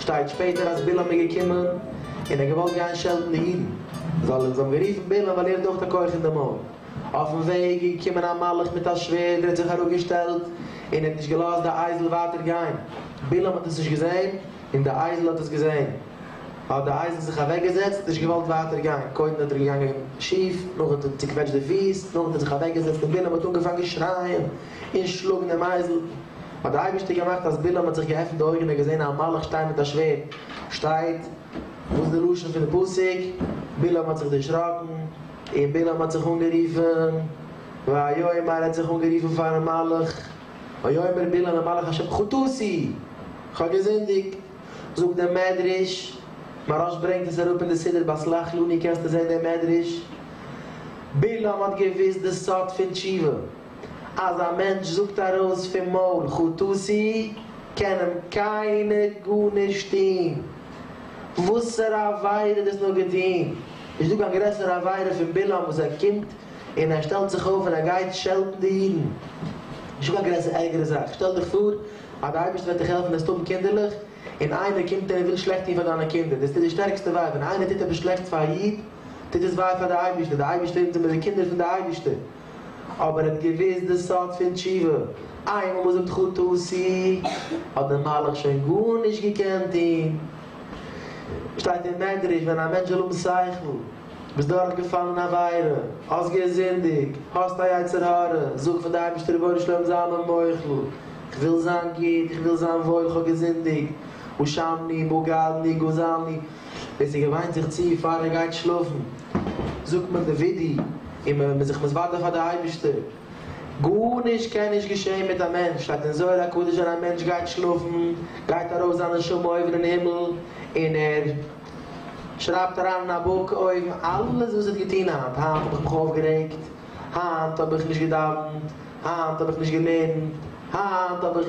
שטייט שפעטער אז בלעם איז געקומען און ער האט געוואלט גיין שעלטן די אידן זאל זיי האבן גערופן בלעם ווייל ער האט אויך א כח אין די מויל אויפן וועג איז געקומען א מלאך מיט א שווערד ער האט זיך אראפ געשטעלט און ער האט נישט געלאזט די אייזל ווייטער גיין בלעם האט עס נישט געזען און די אייזל האט עס געזען האט די אייזל זיך אוועק געזעצט נישט געוואלט ווייטער גיין קודם איז ער געגאנגען שיף נאכדעם האט ער צוקוועטשט די פיס נאכדעם האט ער זיך אוועק געזעצט און בלעם האט אנגעפאנגען שרייען. און שלאגן דעם אייזל. האט דער אייבערשטער געמאכט אז בלעם האט זיך געעפנט די אויגן און געזען א מלאך שטיין מיט א שווערד. שטייט, וואס איז די לשון פון די פסוק? בלעם האט זיך דערשראקן, און בלעם האט זיך אנגערופן, ויאמר ער האט זיך אנגערופן פארן מלאך, ויאמר בלעם למלאך השם חטאתי, כ'האב געזינדיגט. זאגט דער מדרש, מהרש ברענגט עס אראפ אין די סידור ביי סלח לנו קענסטו זען דעם מדרש, בלעם האט געוואוסט די סוד פון תשובה. אז א מענטש זאגט ארויס פון מויל חטאתי קען אים קיינער גארנישט טון, וואסערע עבירה דאס נאר געטון, נישט דא קיין גרעסערע עבירה פון בלעם וואס ער קומט און ער שטעלט זיך אויף און ער גייט שעלטן די אידן, נישט דא קיין גרעסער ערגערע זאך, שטעל דיך פאר אז די אייבערשטער וועט דיך העלפן וועסטו האבן קינדערלעך און איינער קומט און ער וויל שלעכט טון פאר דיינע קינדער, דאס טוט די שטערקסטע וויי, ווען איינער טוט עפעס שלעכטס פאר א איד טוט דאס וויי פאר די אייבערשטער, די אייבערשטער אונז זעמיר די קינדער פון די אייבערשטער. אבער ער האט געוויסט די סוד פון תשובה, איינמאל מען זאגט חטא עשי האט די מלאך שוין גארנישט געקענט טון. שטייט אין מדרש ווען א מענטש זאל האבן שכל, ביסט דורך געפאלן אין עבירה, האסט געזינדיגט, האסט א יצר הרע, זאג פאר די אייבערשטער רבונו של עולם זיי מיר מוחל, איך וויל זיין גוט, איך וויל זיין וואויל, איך האב געזינדיגט, הושעני, בגדני, גזלני. ביז ער געוויינט זיך צו פאר ער גייט שלאפן, זאגט מען די וידוי און מען איז זיך מתוודה פאר די אייבערשטער, גארנישט קען נישט געשען מיט א מענטש, שטייט אין זוהר הקדוש ווען א מענטש גייט שלאפן גייט ארויף זיין נשמה אויבן אין הימל און ער שרייבט אריין אין א בוק אויבן אלעס וואס ער האט געטון היינט, היינט האב איך מיך אויפגערעגט, היינט האב איך נישט געדאווענט, היינט האב איך נישט געלערנט, היינט האב איך.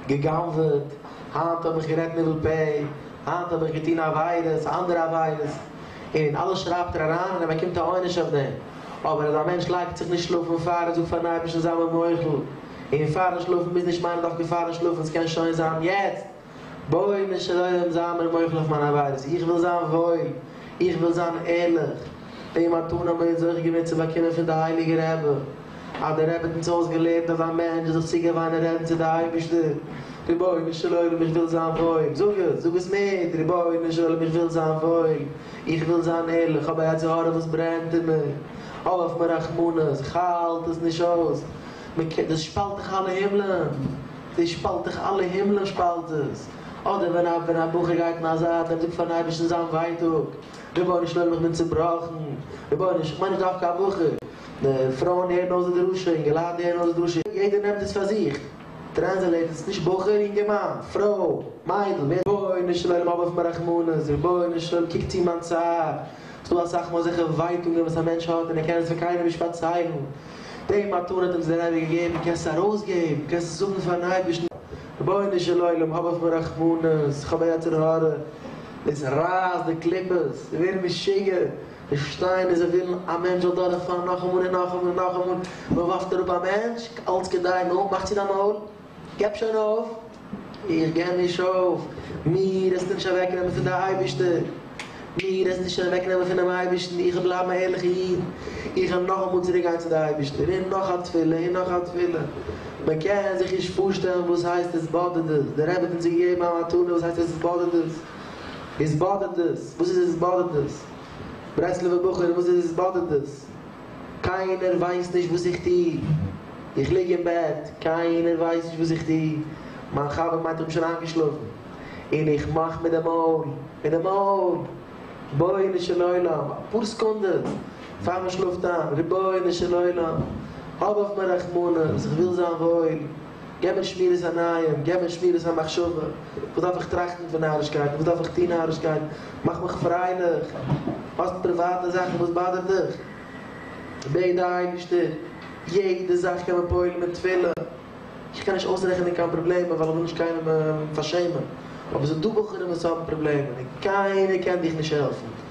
געגנב'עט, היינט האב איך גערעדט ניבול פה, היינט האב איך געטון עבירות, אנדערע עבירות, און אלעס שרייבט ער אריין און ער באקומט א עונש אויף דעם, אבער אז א מענטש לייגט זיך נישט שלאפן פאר ער זאגט פארן אייבערשטן זיי מיר מוחל, און פארן שלאפן מוז נישט מיינען דווקא פארן שלאפן, ס'קען שוין זיין יעצט. בואי משל עולם זיי מיר מוחל אויף מיין עבירות, איך וויל זיין וואויל, איך וויל זיין ערליך, די מתנה האבן מיר יעצט זוכה געווען צו באקומען פון די הייליגע רבי, אז דער רבי האט אונז אויסגעלערנט אז א מענטש זאל זיך צוגעוויינען און רעדן צו די אייבערשטער, רבונו של עולם איך וויל זיין וואויל, זאג עס, זאג עס מיט, רבונו של עולם איך וויל זיין וואויל, איך וויל זיין ערליך, כ'האב א יצר הרע וואס ברענט אין מיר, האב אויף מיר רחמנות, כ'האלט עס נישט אויס, דאס שפאלט דאך אלע הימלען. דאס שפאלט דאך אלע הימלען שפאלט עס. אדער ווען א ווען א בחור גייט אין א זייט ער זאגט פארן אייבערשטן זיין ווייטאג, רבונו של עולם איך בין צובראכן, רבונו של, כ'מיין נישט דווקא א בחור, די פרויען הערן אויס די דרשה, אינגעלייט הערן אויס די דרשה, יעדער נעמט עס פאר זיך, טרענסעלעיט עס, נישט בחור, אינגערמאן, פרוי, מיידל, ווער. רבונו של עולם האב אויף מיר רחמנות, רבונו של עולם קוק צו מיין צער, ס'דא אסאך מאל אזעלכע ווייטאגען וואס א מענטש האט און ער קען עס פאר קיינעם נישט פארציילן, די מתנה האט אים דער אייבערשטער געגעבן, קענסט עס ארויסגעבן, קענסט עס זאגן פארן אייבערשטן, רבונו של עולם האב אויף מיר רחמנות, איך האב א יצר הרע, דאס רייסט די קליפות, מיר ווערן משוגע, מיר שטייען און זיי ווילן א מענטש זאל דורכפאלן נאכאמאל און נאכאמאל און נאכאמאל, מען ווארפט אראפ א מענטש אלץ כדי נא, מאך צו דיין מויל. געב שוין אויף! איך געב נישט אויף! מיר העסטו נישט אוועקנעמען פון די אייבערשטער! מיר העסטו שוין אוועקנעמען פונעם אייבערשטן! איך וועל בלייבן א ערליכער איד! איך וועל נאכאמאל צוריק גיין צו די אייבערשטער! און נאך א תפילה! און נאך א תפילה! מען קען זיך נישט פארשטעלן וואס הייסט התבודדות! דער רבי האט אונז געגעבן א מתנה וואס הייסט התבודדות! התבודדות! וואס איז התבודדות? ברסלב'ע בחור וואס איז התבודדות? קיינער ווייסט נישט וואס איך טוה. איך ליג אין בעט, קיינער ווייסט נישט וואס איך טוה. מיין חבר מיינט איך בין שוין איינגעשלאפן. און איך מאך מיט די מויל, מיט די מויל. רבונו של עולם, אפאר סעקונדעס פאר מען שלאפט איין, רבונו של עולם, האב אויף מיר רחמנות, איך וויל זיין וואויל. געב מיר שמירת עיניים, געב מיר שמירת המחשבה, וואס דארף איך טראכטן פון נארישקייטן, וואס דארף איך טון נארישקייטן, מאך מיך פרייליך, האסט פריוואטע זאכן וואס באדערט דיך, בעט די אייבערשטער, יעדע זאך קען מען פועל'ן מיט תפילה, איך קען נישט אויסרעכענען קיין פראבלעמען ווייל איך וויל נישט קיינעם פארשעמען, אבער ס'דא בחורים וואס האבן פראבלעמען און קיינער קען דיך נישט העלפן.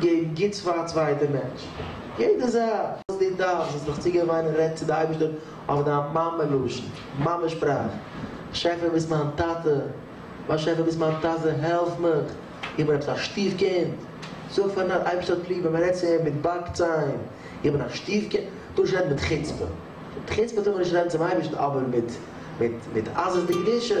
געב גוטס פאר א צווייטע מענטש. יעדע זאך וואס דו דארפסט זאלסט דיך צוגעבן וויינען רעד צו די אייבערשטער אויף דיין מאמע לשון, מאמע שפראך, באשעפער ביסט מיין טאטע, באשעפער ביסט מיין טאטע העלף מיך, איך בין עפעס א שטיף קינד, זאג פארן אייבערשטער האט ליב ווען מען רעדט צו אים מיט באק ציין, איך בין א שטיף קינד, טאר נישט רעדן מיט חוצפה, מיט חוצפה טאר מען נישט רעדן צום אייבערשטן אבער מיט עזות דקדושה.